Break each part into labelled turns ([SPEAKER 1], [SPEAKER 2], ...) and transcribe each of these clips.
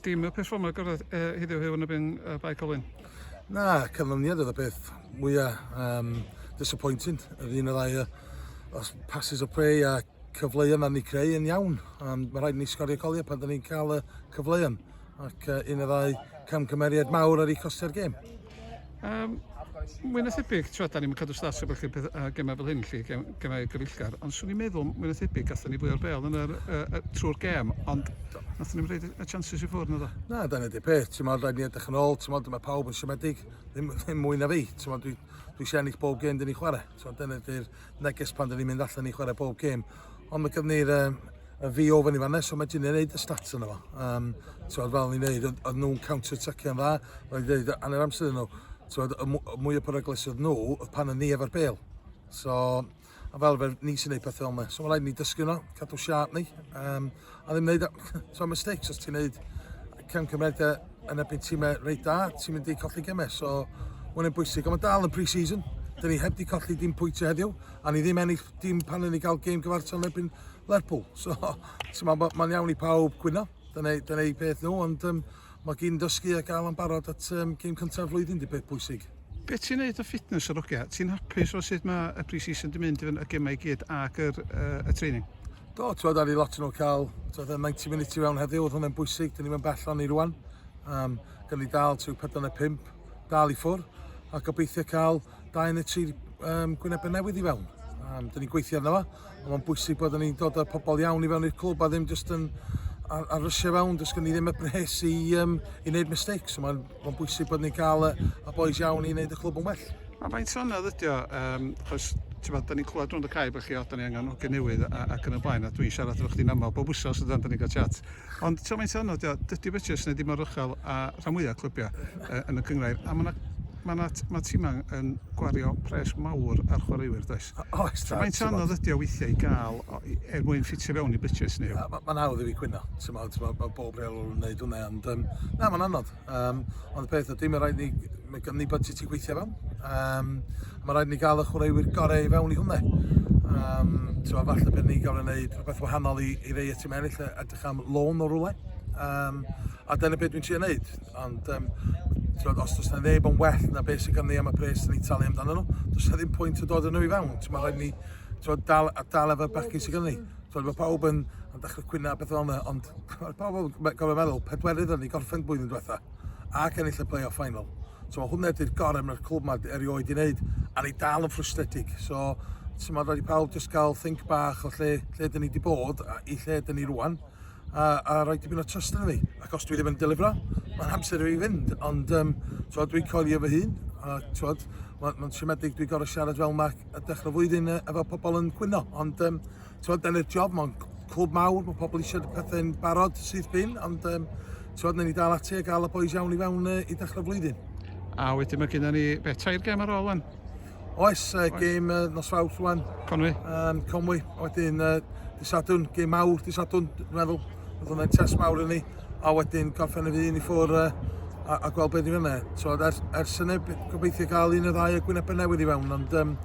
[SPEAKER 1] Dim y peth fformau gorau uh, heddiw hefyd yn y byn uh, Bae Colwyn? Na,
[SPEAKER 2] canlyniad oedd y peth mwyaf um, disappointing. Yr un y ddau os passes o play a cyfleuon na ni creu yn iawn. Um, mae rhaid ni sgorio goliau pan da ni'n cael y cyfleuon. Ac uh, un y ddau camgymeriad mawr ar ei costio'r gêm.
[SPEAKER 1] Um, mwy na thebyg, tra da ni'n cadw stas o beth chi'n uh, gemau fel hyn, lle gem, gemau gyfeillgar, ond swn i'n meddwl, mwy na thebyg, gatho ni fwy o'r bel yn yr, uh, uh, trwy'r gem, ond nath ni'n rhaid y chances i ffwrdd na dda. Na, da ni wedi peth, ti'n
[SPEAKER 2] modd, rhaid ni edrych yn ôl, ti'n modd, mae pawb yn siomedig, ddim, ddim mwy na fi, ti'n modd, dwi, dwi eisiau ennill bob gem dyn ni chwarae, ti'n modd, dyna di'r neges pan dyn ni'n mynd allan i chwarae bob gem, Ond mae gyda ni'r um, y fi ofyn i fanna, so mae Ginia'n neud y stats yna fo. Um, Tywed, fel ni'n neud, oedd nhw'n counter-attacio'n dda, roedd wedi dweud, anna'r amser nhw, tywed, y mwy o peryglis oedd nhw, oedd pan yn ni efo'r bel. So, a fel fe, ni sy'n neud pethau o'n So mae rhaid ni dysgu nhw, cadw siarp ni. Um, A ddim wneud so mistakes os ti'n wneud cefn cymeriad yn erbyn tîmau reit da, ti'n mynd i colli gemau. So, mae'n yn bwysig, ond mae dal yn pre-season. Dyn ni heb di colli dim pwyntio heddiw, a ni ddim ennill dim pan ni gael gêm gyfartal yn erbyn Lerpwl. So, mae'n ma iawn i pawb gwyno, dyna, dyna ei beth nhw, ond um, mae gen dysgu a gael am barod at um, gêm cyntaf flwyddyn di beth bwysig. Be ti'n neud o
[SPEAKER 1] fitness yr ogia? Ti'n hapus o sut mae y pre-season di mynd y gemau i gyd ac yr, uh, y training? Do, ti'n ar i
[SPEAKER 2] lot nhw cael ti'n y 90 minutes i fewn heddiw, oedd hwnna'n bwysig, dyn ni'n mynd bell o'n i rwan. Um, gan ni dal ti'n 45, dal i ffwr, a gobeithio cael 2 neu 3 um, gwynebau newydd i fewn. Um, dyn ni'n gweithio arno fo. Ond mae'n bwysig bod ni'n dod â pobl iawn i fewn i'r clwb a ddim jyst yn ar, ar rysiau fewn, does gen i ddim y bres i, um, i wneud mistakes. So mae'n ma bwysig bod ni'n cael y, y boys iawn i wneud y clwb yn well. Mae'n faint o'n anodd
[SPEAKER 1] ydi o, um, chos ti'n bod, da ni'n clywed rhwng y cae bod chi, o, da ni angen hogyn newydd ac yn y blaen, a dwi'n siarad efo chdi'n aml, bob wsos ydan, da ni'n cael chat. Ond ti'n faint o'n anodd ydi o, dydy Butchers neu dim o'r uchel a rhan mwyaf clybiau uh, yn y cyngrair, a mae yna Mae, na, mae tîmau yn gwario pres mawr ar chwaraewyr, does? Oes, tibod. Mae'n anodd ydi o weithiau i gael, er mwyn ffitio fewn i budget ni. Mae'n hawdd i fi cwyno,
[SPEAKER 2] mae bob rheolwr yn gwneud hwnna, ond um, na, mae'n anodd. Um, ond y peth ydy, mae rhaid ni, mae gen ni budget i gweithio fewn. Um, mae rhaid ni gael y chwaraewyr gorau i fewn i hwnna. Um, so, falle bydd ni gael ei wneud rhywbeth wahanol i, i rei y tîm eraill, edrych am lôn o rwle. Um, a dyna beth dwi'n siarad gwneud. Ond um, Tywed, os does na neb yn well na beth sy'n ganddi am y pres sy'n ei talu amdano nhw, does na ddim pwynt o dod yn nhw i fewn. Mae rhaid ni tywed, dal, a dal efo'r bechgyn sy'n ganddi. Mae pawb yn, yn dechrau cwyna beth o'n yna, ond mae pawb yn gofio meddwl, pedwerydd yn ei gorffen blwyddyn diwetha, ac ennill y play-off final. So mae hwnna ydy'r gorau mae'r clwb yma erioed i wneud, a ni dal yn ffrwstedig. So, ti'n meddwl, rhaid i pawb jyst gael think bach o lle, lle dyn ni wedi bod a i lle dyn ni rwan. a, a rhoi dipyn o trust yn fi. Ac os dwi ddim yn delifro, mae'n amser i fi fynd. Ond um, twod, dwi'n coelio fy hun, a twod, mae'n ma siomedig dwi'n gorau siarad fel mae y dechrau flwyddyn efo pobl yn cwyno. Ond um, twod, dyna'r job, mae'n clwb mawr, mae pobl eisiau pethau'n barod sydd bin, ond um, twod, ni dal ati a gael y boys iawn i fewn uh, i dechrau flwyddyn. A wedyn mae
[SPEAKER 1] gennym ni bethau i'r gem ar ôl yn. Oes, uh, Oes.
[SPEAKER 2] gêm uh, nos fawrth rwan. Conwy. Um,
[SPEAKER 1] Conwy,
[SPEAKER 2] wedyn uh, disadwn, gêm mawr disadwn, dwi'n meddwl. Oedd hwnna'n test mawr yn ni. A wedyn gorffen y ddyn i ffwr uh, a, a gweld beth i fyna. So, ers, ers yna, gobeithio gael un o ddau o gwynebau newydd i fewn, ond... Um,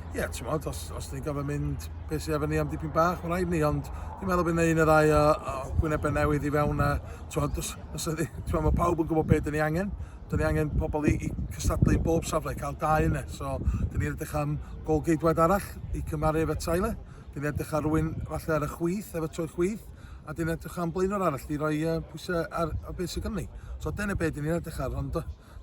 [SPEAKER 2] Ie, yeah, ti'n modd, os, os ni'n gofyn mynd beth sydd efo ni am dipyn bach, mae'n rhaid ni, ond dwi'n meddwl bydd un o ddau o, o gwynebau newydd i fewn a, ti'n modd, os, os ydy, ti'n modd, mae pawb yn gwybod beth dyn ni angen, 'da ni angen pobl i, i cystadlu yn bob safle, cael dau yna. So, dyn ni'n edrych am gol geidwad arall i cymaru efo Tyler. Dyn ni'n edrych ar rwy'n falle ar y chwyth, efo trwy'r chwyth. A dyn ni'n edrych am blaenwr arall i roi uh, pwysau ar, ar beth sydd gynnu. So, dyna beth dyn ni'n edrych ar. Ond,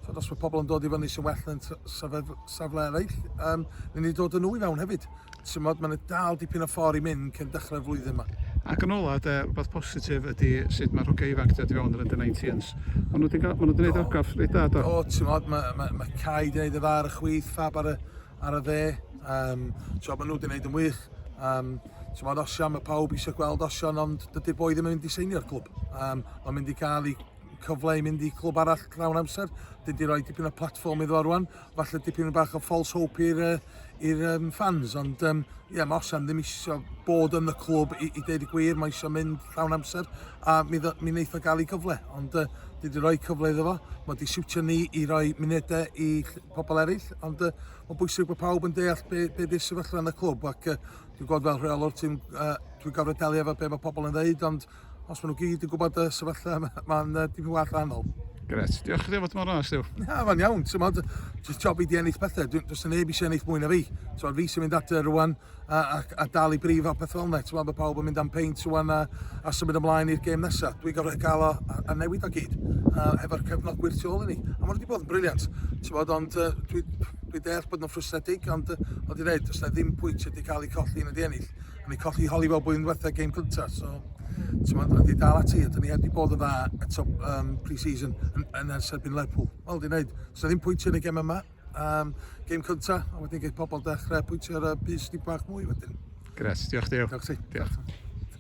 [SPEAKER 2] so, os mae pobl yn dod i fyny sy'n well yn safle eraill, um, ni'n ni dod yn nhw i fewn hefyd. Timod, mae'n dal dipyn o ffordd i mynd cyn dechrau'r flwyddyn yma. Ac yn ola, de,
[SPEAKER 1] rhywbeth positif ydy sut mae'r hogiau ifanc wedi fewn yr under 19s. Maen nhw wedi gwneud orgraff reit dda, do? O, ti'n modd, mae, mae, mae
[SPEAKER 2] Cai wedi gwneud y dda ar y chwith, ffab ar y, ar y dde. Um, so, maen nhw wedi gwneud yn wych. Um, ti'n modd, Osian, mae pawb eisiau gweld Osian, ond dydy boi ddim yn mynd i seinio'r clwb. Um, mae'n mynd i gael ei cyfle i mynd i clwb arall llawn amser. Dydy roi dipyn o platform iddo fo rwan. falle dipyn bach o false hope i'r i'r um, fans, ond um, ie, yeah, mae Osen ddim eisiau bod yn y clwb i, i ddeud y gwir, mae eisiau mynd llawn amser, a mi, mi wneith o gael ei gyfle, ond uh, dwi wedi rhoi cyfle iddo fo, mae wedi siwtio ni i roi munedau i pobl eraill, ond uh, mae'n bwysig bod pawb yn deall be, be di'r sefyllfa yn y clwb, ac uh, dwi'n gwybod fel rheolwr ti'n, uh, dwi'n gofred delio efo be mae pobl yn ddeud, ond os maen nhw gyd yn gwybod y sefyllfa, mae'n uh, dipyn gwell rhannol. Gret, diolch chdi fod
[SPEAKER 1] mor ras, Llew. Na, mae'n iawn, ti'n
[SPEAKER 2] modd, dwi'n job i di ennill pethau, dwi'n dwi'n neb eisiau ennill mwy na fi. Ti'n modd, fi sy'n mynd adre rwan a, a, a dal i brif a pethau fel yna, ti'n modd, mae pawb yn mynd am peint rwan a, a symud ymlaen i'r gêm nesaf. Dwi'n gorfod cael o a, a newid o gyd, a hefo'r cefnogwyr tu ôl i ni. A mae wedi bod yn briliant, ti'n modd, ond uh, dwi'n dwi deall bod nhw'n ffrwstedig, ond uh, oedd i'n dweud, does na ddim pwynt wedi cael ei colli yn y di ennill. O'n i colli holi fel blwyddyn diwetha game cynta, so t'mod, a 'di dal ati, a 'dyn ni heb 'di bod yn dda eto um, pre-season yn, yn ers erbyn Lerpwl. Wel, di wneud, so ddim pwyntio yn y gem yma, um, game cynta, a wedyn gael pobl dechrau pwyntio ar y bus di bach mwy
[SPEAKER 1] wedyn. Gres,
[SPEAKER 2] diolch Deo. Diolch ti. Diolch.